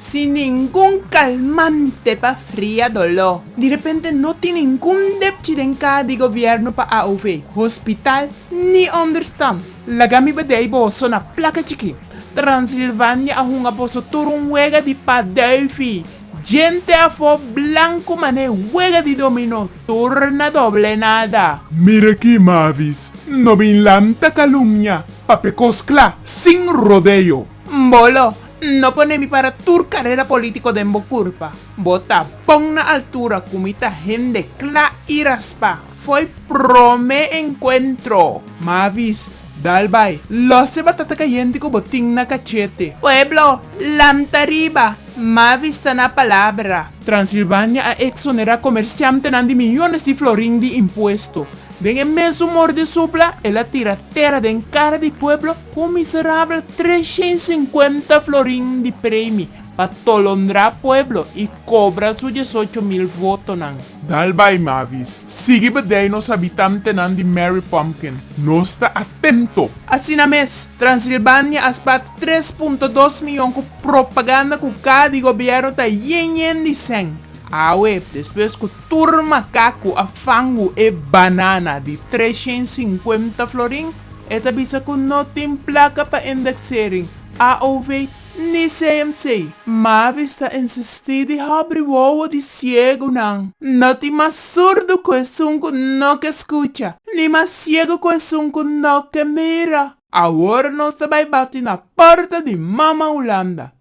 Sin ningun kalmante pa fria doló. Direpente no tin ningun depchi den kaa di gobièrnu pa AOV, hospital ni onderstan. Laga mi badei boso na plaka chikí. Transilvania a hunga boso tur un wega di paduifi. Djente afó blanku man'é wega di dominó tur na doble nada. Mira ki Mavis no bin lanta kalumnia pa pe kos kla, sin rodeo. Mbolo, No pone mi para tur carera politico den bo curpa. Bo ta bon na altura cu mi ta hende cla y raspa. Foy prome encuentro. Mavis, Dal bay, los e batata cayente cu bo tin na cachete. Pueblo, Lamta riba! Mavis ta na palabra. Transilvania a exonera comerciantenan di millones di florin di impuesto. Den e mesun mor di supla, el a tira tera den kara di pueblo ku un miserabel treshen sinkuenta florin di premi pa tolondrá pueblo i kobra su diesocho mil votonan. Dal bai Mavis. Sigui bedei nos habitantenan di Mary Pumpkin. Nos ta atento! Asina mes, Transilbania a spat tres punto dos miyon ku propaganda ku kada di gobièrnu ta yen yen di sèn. Awe, despues ku Tur makaku a fangu e banana di treshen sinkuenta florin, e ta bisa ku no tin plaka pa indeksering, AOV, ni CMC. Mavis ta insistí di hobri wowo di siegunan. No tin mas surdu ku esun ku no ke skucha, ni mas siegu ku esun ku no ke mira. Awor nos ta bai bati na porta di Mama Hulanda.